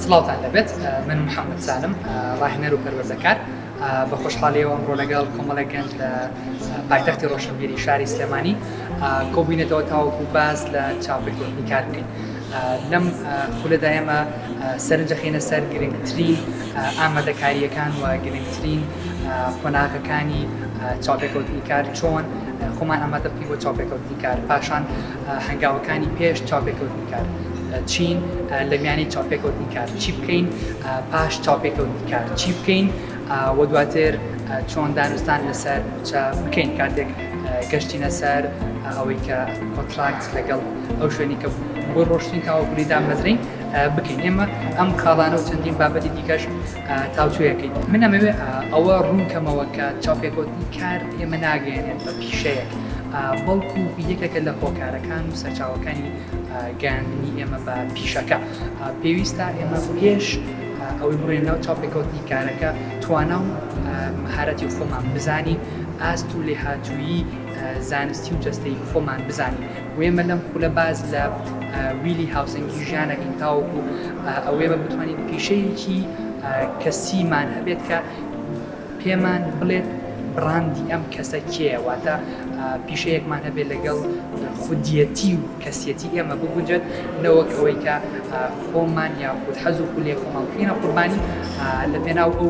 سڵاوتان لەبێت من محەممەد سالم ڕاهێنەر و پەروەردەکار بە خۆشحاڵیەوە ئەمڕۆ لەگەڵ کۆمەڵێک گەنج لە پایتەختی ڕۆشنبیری شاری سلێمانی کۆبینێتەوە تاوەکو باز لە چاپێکوتنی کار بکەین لەم خولەدا ئێمە سەرنج دەخەینە سەر گرنگترین ئامادەکارییەکان و گرنگترین قۆناغەکانی چاوپێکەوتنی کار چۆن خۆمان ئامادە بکەین بۆ چاوپێکەوتنی کار پاشان هەنگاوەکانی پێش چاوپێکەوتنی کار چین لە میانی چاپێکەوتنی کار چی بکەین پاش چاپێکەوتنی کار چی بکەین وە دواتر چۆن دانوستان لەسەر موچە بکەین کاتێک گەشتینە سەر ئەوەی کە کۆنتراکت لەگەڵ ئەو شوێنی کە بۆ ڕۆشتین تاوەکولی دامەزرین بکەین ئێمە ئەم خاڵانە و چەندین بابەتی دیکەش تاوتوێەکەین من ئەمەوێ ئەوە ڕوونکەمەوە کە چاپێکوتنی کار ئێمە ناگەێنێت بە پیشەیەک بەڵکو یەکێکە لە هۆکارەکان و سەرچاوەکانی گەاندنی ئێمە بە پیشەکە پێویستە ئێمە پێش ئەوەی بڕۆینە ناو چاوپێکەوتنی کارەکە، توانا و مەهارەتی خۆمان بزانین، ئاست و لێهاتوویی زانستی و جەستەیی خۆمان بزانین و ئێمە لەم خولە باس لە ویلی هاوسەنگی ژیان ئەکەین تاوەکو ئەوەی ئێمە بتوانین پیشەیەکی کەسیمان هەبێت کە پێمان بڵێت بڕاندی ئەم کەسە کێیە واتە پیشەیەکمان هەبێت لەگەڵ خودیەتی و کەسیەتی ئێمە بگونجێت نەوەک ئەوەی کە خۆمان یاخود حەز و خولێ خۆمان بکەینە قوربانی لە پێناو ئەو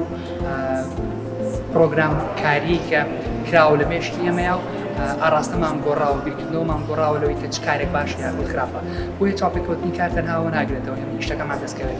پرۆگرام کاری کە کراوە لە مێشکی ئێمەیە و ئاراستەمان گۆڕاوە بیرکردنەوەمان گۆڕاوە لەوەی کە چ کارێک باش یاخود خراپە بۆیە چاپێکەوتنی کار تەنهاوە ناگرێتەوە ئێمە نیشتەکەمان دەستکەوێت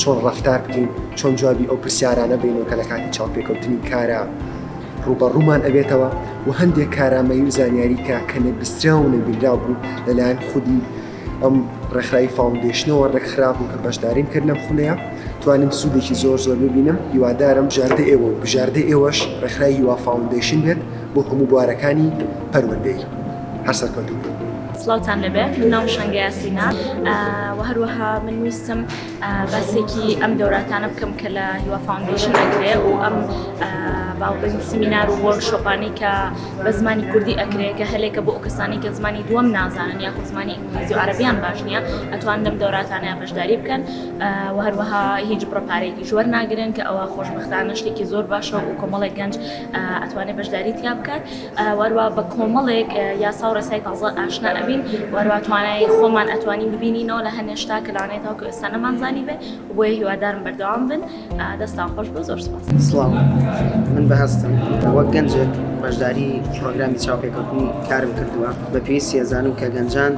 چۆن ڕەفتار بکەین چۆن جوابی ئەو پرسیارانە بینەوە کە لە کاتی چاوپێکەوتنی کارە ڕوبەڕوومان ئەبێتەوە و هەندێک کارامەی و زانیاری کە کە نەبیسترا و نەبیرراو بوو لەلایەن خودی ئەم ڕێکخراوی فاونندێشنەوە ڕێکخراپ و کە بەشداریم کرد لەم خولەیە توانم سوودێکی زۆر زۆر ببینم هیوادارم بژاردە ئێوە و بژاردە ئێوەش ڕێکخرای هیوا فاونندێشن بێت بۆ هەموو بوارەکانی پەروەدەی هەر سەرکەوتوو بێت. سڵاوتان لەبێ من ناوم شەنگە یاسینە و هەروەها من ویستم باسێکی ئەم دەوراتانە بکەم کە لە هیوا فاونندیشن ئەکرێ و ئەم باڵبن سیمینار و وەرک شۆپانی کە بە زمانی کوردی ئەکرێ کە هەلێکە بۆ ئەو کەسانی کە زمانی دووەم نازانن یا خۆ زمانی ئینگلیزی و عربیان باش نییە ئەتوان لەم دەوراتانەیان بەشداری بکەن و هەروەها هیچ بڕە پارێکی ژوەر ناگرن کە ئەوە خۆشببختانە شتێکی زۆر باشە و کۆمەڵی گەنج ئەتوانێت بەشداری تیا بکات وەروا بە کۆمەڵێک یاساو ڕێسای تازە ئاشنا ئەبین وەروا توانای خۆمان ئەتوانین ببینینەوە لە هەنێ شتا کە لەوانەیە تاکو ئێستا نەمان زانیبێ بۆیە هیوادارم بەردەوام بن دەستان خۆش بێ زۆر سوپاس. سڵاو من بەهەستم وەک گەنجێک بەشداری پڕۆگرامی چاوپێکەوتنی کارم کردووە بە پێویستی ئەزانم کە گەنجان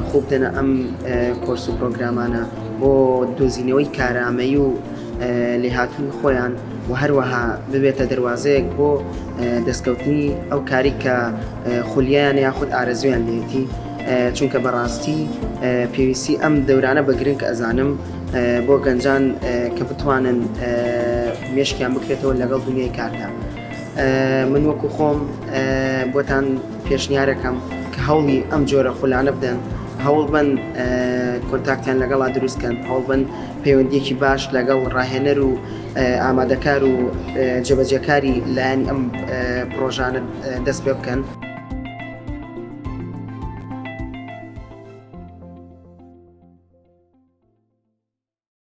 خوو بدەنە ئەم کۆرس و پڕۆگرامانە بۆ دۆزینەوەی کارامەیی و لێهاتووی خۆیان و هەروەها ببێتە دەروازەیەک بۆ دەستکەوتنی ئەو کاری کە خولیان یاخود ئارەزویان لێتی چونکە بەڕاستی پێویستی ئەم دەورانە بە گرنگ ئەزانم بۆ گەنجان کە بتوانن مێشکیان بکرێتەوە لەگەڵ دنیای کاردا من وەکو خۆم بۆتان پێشنیارەکەم کە هەوڵی ئەم جۆرە خولانە بدەن هەوڵ بن کۆنتاکتیان لەگەڵا دروستکەن هەوڵ بن پەیوەندییەکی باش لەگەڵ ڕاهێنەر و ئامادەکار و جێبەجێکاری لایەنی ئەم پڕۆژانە دەست پێ بکەن.